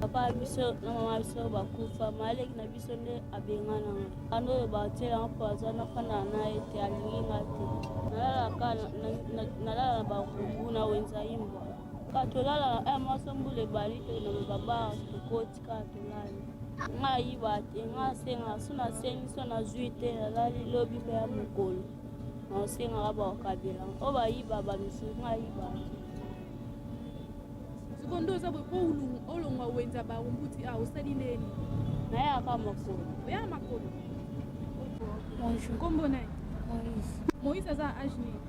papa na biso na mama na biso bakufa maleki na biso nde abengana nga ana oyo batiela nga mpo aza nafanda na ye te alingi nga te nalalaka nalala na bakubu na wenza imbwa ka tolala na mwasi mbula ebali te na babara tokoti kaka tolali nga ayiba te nga asenga so nasengi so nazwi te nalali lobi mpe ya mokolo naosengaka bakabela oyo bayiba bamisusu nga ayiba te sikoyo nde oza boye mpo olongwa wenza barumbuti a ah, osali ndeni nayaka makolo oyaka makolo bonjour nkombo nani moïse moïse aza age nini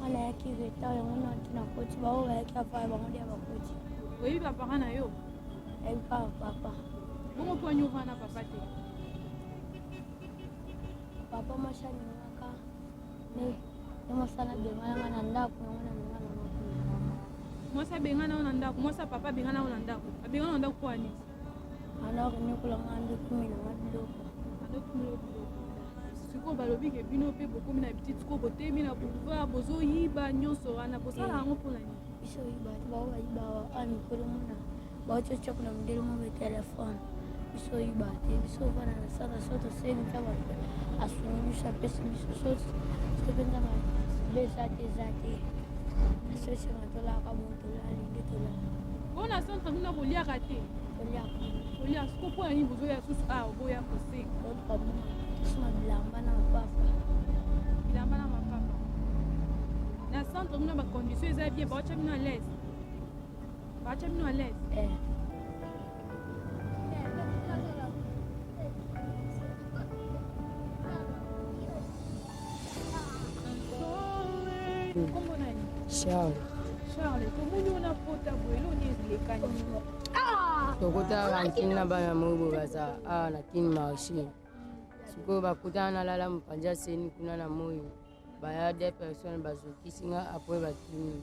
Wana ya kiveta yango na tuna koti ba oba ya kafa ba ngodi ba koti. Oyi ba papa na yo. Ebi pa papa. Bongo po nyo na papa te. Papa mashani ngaka. Ne. Ne masala de ngana na ndako yango na ngana. Mwasa bengana ona ndako, mwasa papa bengana ona ndako. Abengana ona ndako kwa nini? alors niokola nga nde kumi na nga biloko sikoyo balobi ke bino mpe bokomi na bititi sikoyo botemi na boulevard bozoyiba nyonso wana bosala yango mpo na nini biso oyiba te bao bayiba a mikolo mona baotiotia kuna modele mo be telefone biso oyiba te biso ovanda na sala so toseli ntango asungi biso apesi biso so mpenza besa te eza te asosema tolaka bongo Bona centre kuna koliaka te. Kolia soko mpo na nini bozoya susu awa boya koseka. Bilamba na mapapa. Bilamba na mapapa. Na centre kuna ba condition eza bien baotya bino à l'aise. Baotya bino à l'aise. Eh. Charles. Charles, tomoni ona pota boye eloni elekani. Ah! Tokota kantine na bana moyibo baza awa ah, na kin marché. Sikoyo bakutana na lala mopanja seni kuna na moyi. Baya deux personnes bazokisi nga apres bakimi.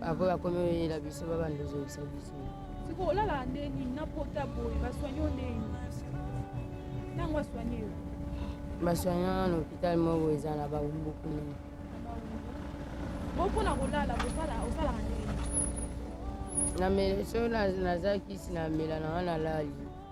Après bakomi oyela biso babanda ozongisa biso. Siko olala nde nini na pota boye baswanye yo nde nini? Ntango aswanye yo. Baswanye wana na hôpital moko eza na bambuku nini. Boko na kolala kosala osalaka nde nini? Na mele so naza kisi na mela na wana lali.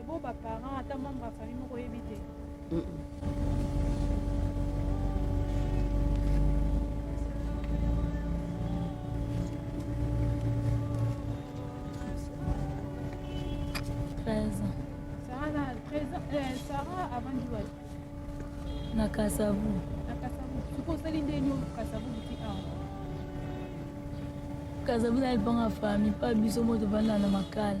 Ebo ba parents ata membre ya famille moko yebi te. Mm -mm. na kasavu na kasavu soki osali nde nio kasavu buti awa kasavu na libanga fami pa biso moto banda na makala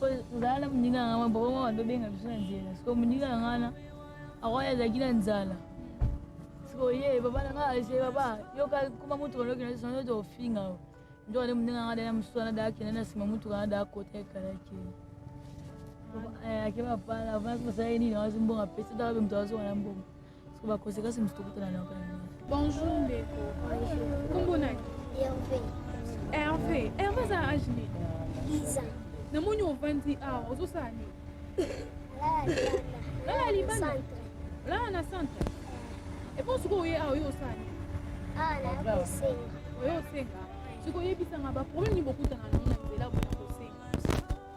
ozala na moninga na ngai boko mama tobenga biso na nzela siko moninga na ngai na akoya azalaki na nzala siko ye papa na ngai ase papa yoka kuma motuka nokenda sisa nzoto ofinga o nzoka nde moninga ngai dana mosusu wana daa kenda na nsima motuka na daa kota ekala kende ake papa na avance kosala ye nini awazi mbongo apesi taka be moto azonga na mbongo Bonjour ndeko. Kombo nani? Hervé. Hervé. Hervé aza age nini? 10 ans. Namoni ovandi awa ozosala nini? Lala libanda. Lala na centre. Epo soki oye awa oyo osala nini? Awa na kosenga. Oyo osenga. Soki oyebisanga ba problème nini bokutana na nzela boye.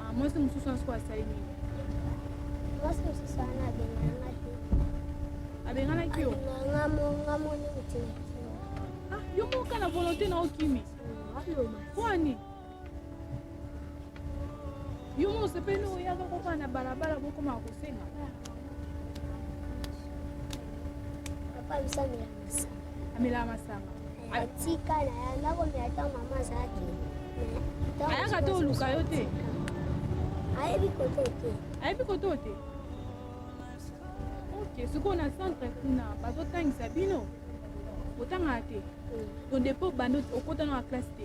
Ah, mwasi mosusu wana soko asali nini mwasi mosusu wana abenganaka te abenganaki yo ngamoni te ah, yo moka na volonté na okimi kwani yo mo osepeli oyaka kokana na balabala bokomaka kosenga papa lusami ya masa amelaka masanga atika na ya nakomela ntango mama azalaki ayaka te oluka yo te ayebi koto te ayebi koto te ok sikoyo na centre kuna bazotangisa bino otangaka te mm. to depo bando okota na classe te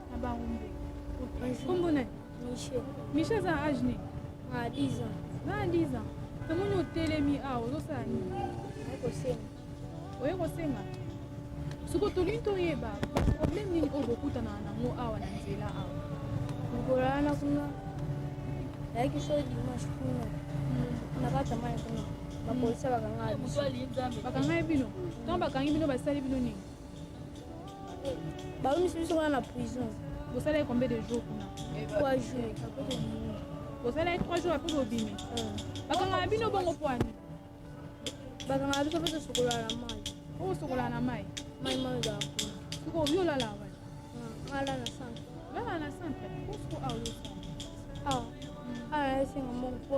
Na Barumbe. Kombo na Michel. Michel aza na âge nini? Na 10 ans. Na 10 ans. Namoni otelemi awa ozosala nini? Naye kosenga. Oye kosenga? Soko tolingi toyeba problème nini oyo bokutana nango awa na nzela awa? Mokolo wana kuna nayaki so dimanche kuna na kati ya mai kuna bapolisi bakanga biso. Bakanga bino? Ntango bakangi bino basali bino nini? baumisi biso wana na prison bosalaki combien de jour kuna trois jour bosalaki trois jour apres bobimi bakangaka bino bongo pwani bakangaka biso mpe tosokolaka na mai osokolaka na mai mai mai ozala kuna soko obi olala wa ala na centre olala na centre osoko aolosa awa ala esenga moko po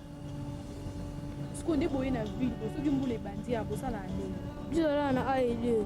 sikoyo nde boye na ville po soki mbula ebandi ya bosala ndenge bizalala na aelie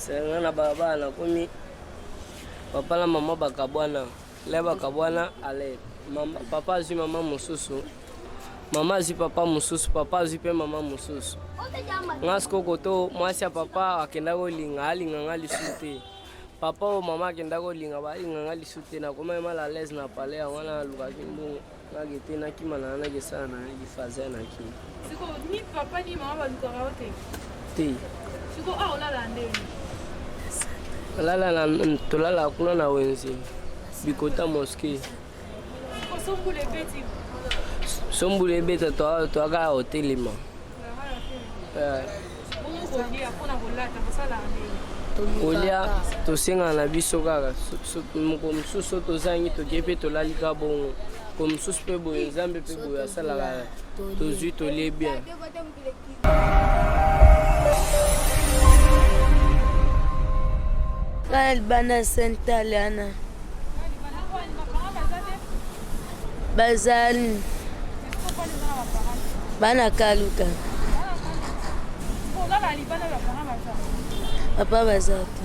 senga na balabala nakomi papa na mama bakabwana le bakabwana ale mama, papa azwi mama mosusu mama azwi papa mosusu papa azwi mpe mama mosusu nga sikoyo koto mwasi ya papa akendaki kolinga alinga nga lisusu te papa oyo mama akenda kolinga balinga nga lisu te nakomaki mal alaise na pale yango wana nalukaki mbongo nake te nakima na nake esala na nake faze nake te tolala kuna na wenze bikota moske sombulu ebeta toaka ya otelema kolia tosengana na biso kaka moko mosusu tozangi tokie mpe tolali ka bongo ko mosusu mpe boye nzambe mpe boye asalaka tozwi tolie bien Kaya libanda Sentaliana bazali bana kaluka papa baza te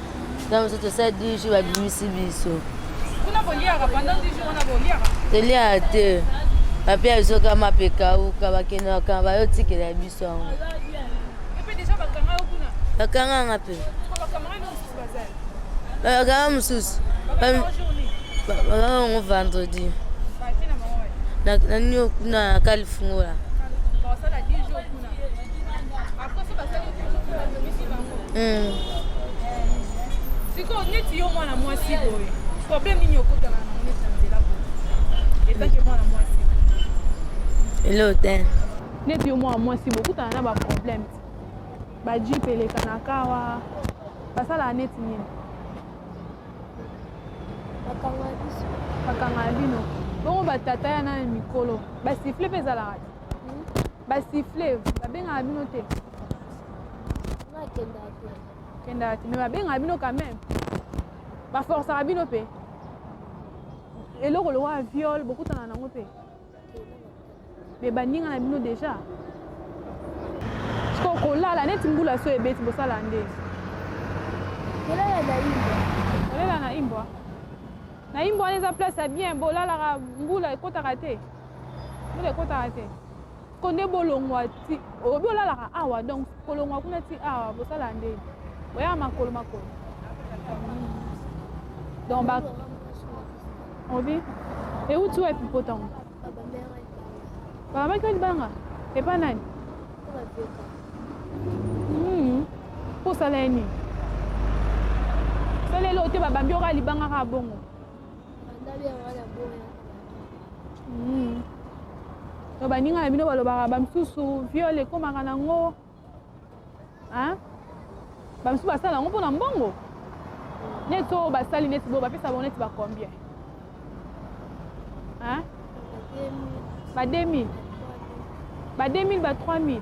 ntango mosusu tosala 10 jours babimisi biso toliaka te bape ya biso kama mpe kauka bakendaka bayotikela ya biso yango bakanganga mpe bakanga mosusu bakanga yango vendredi na nini kuna kalifungola Mm. sikoyo neti yo mwana mwasi boye problème nini okotaka na neti na nzela boye etake mwana mwasi elo te neti yo mwana mwasi boye okutana na baproblème bajipe eleka na kawa basalaka neti nini bakanga bino bongo batata ya nani mikolo basifle mpe ezalaka te ba siffle babengaka bino te kendaka te mais babengaka bino quand même baforcaka bino mpe eloko lokola viole bokutana nango mpe me baninga na bino déjà siko kolala neti mbula so ebeti bosala nde kolala na imbwa na imbwa wana eza place ya bien bolalaka mbula ekotaka te ekotaka te ko nde bolongwa ti obi olalaka awa donc kolongwa kuna ti awa bosalaka nde oya makolo makolo donc ba obi euti wapi mpo ntango babamaki libanga epa nani hmm. mpo osala ye nini saleli oyo te babambi oka libanga kaka bongo Hmm. to baninga na bino balobaka bamisusu viole ekomaka nango bamisusu basala yango mpo na mbongo neti oyo basali neti boyo bapesa bango neti bacombien ba 2000 ba 2000 ba 3000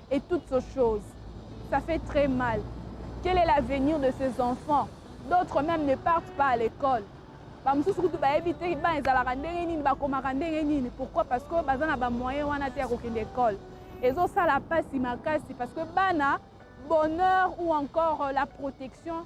et toutes ces choses ça fait très mal quel est l'avenir de ces enfants d'autres même ne partent pas à l'école bamosusu kutu bayebi te bana ezalaka ndenge nini bakomaka ndenge nini pourquoi parce que baza na bamoyen wana te ya kokende ekole ezosala mpasi makasi parce que bana bonheur ou encore la protection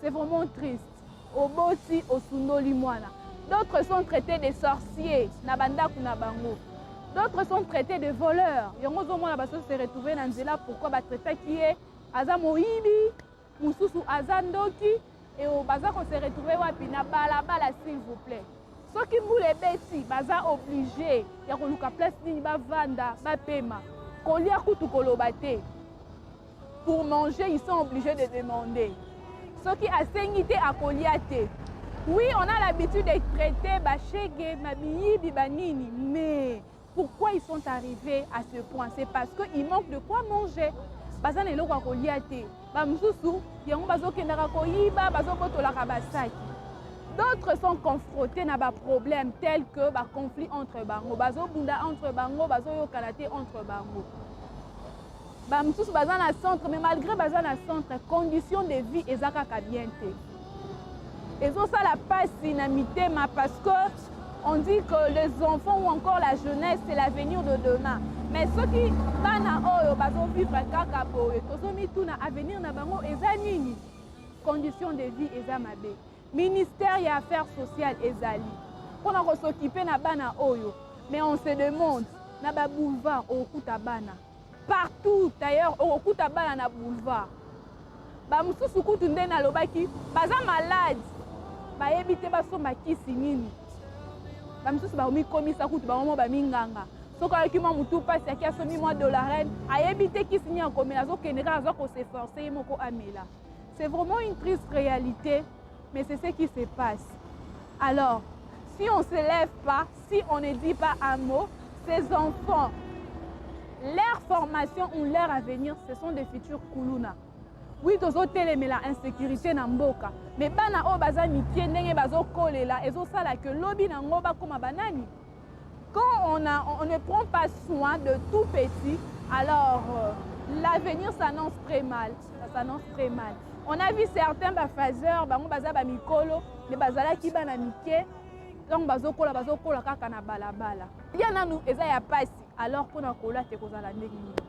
C'est vraiment triste. Oboti osundoli mwana. D'autres sont traités de sorciers na bandaku na bango. D'autres sont traités de voleurs. Yango zo mwana baso se retrouver na nzela pourquoi ba traitaki ye aza moyibi, mususu aza ndoki et baza ko se retrouver wapi na bala bala s'il vous plaît. Soki mbula ebeti baza oblige ya koluka place nini bavanda bapema kolia kutu koloba te Pour manger, ils sont obligés de demander. Soki asengi te akolia te. Oui, on a l'habitude de traiter Bachege, Mabiyibi, Banini, mais pourquoi ils sont arrivés à ce point C'est parce qu'il manque de quoi manger. baza na eloko ya kolia te bamosusu yango bazokendaka koyiba bazobotolaka basaki d'autres sont confrontés na baproblème tel que baconflit entre bango bazobunda entre bango bazoyokana te entre bango ba mosusu baza na centre mais malgré baza na centre condition de vie eza kaka bien te ezosala mpasi na mitema parce que on dit que les enfants ou encore la jeunesse c'est l'avenir de demain mais soki bana oyo bazovivre kaka boye tozomituna avenir na bango eza nini condition de vie eza mabe ministère ya affaires sociales ezali mpo na kosokipe na bana oyo mais on se demande na baboulevard okokuta bana partout ailleurs okokuta bana na boulevard bamosusu kutu nde nalobaki baza malade bayebi te basomba kisi nini bamosusu bakomikomisa kutu bango mo baminganga soki ayoki mwa motu mpasi aki asombi mwa dolarene ayebi te kisi nini akomela azokende kaka aza koseforce ye moko amela C'est vraiment une triste réalité, mais c'est ce qui se passe. Alors, si on ne se lève pas, si on ne dit pas un mot, ces enfants, leur formation ou leur avenir, ce sont des futurs kuluna. Oui, tozo telemela insécurité na mboka, mais bana o baza mikie ndenge bazo kolela, ezo sala que lobi na ngo ba koma banani. Quand on, a, on ne prend pas soin de tout petit, alors euh, l'avenir s'annonce très mal. Ça s'annonce très mal. On a vu certains bafazeurs, bango baza ba mikolo, mais bazalaki bana mike, donc bazokola bazokola kaka na balabala. Ya nanu eza ya pasi, alors mpona kola te kozala ndenge nini.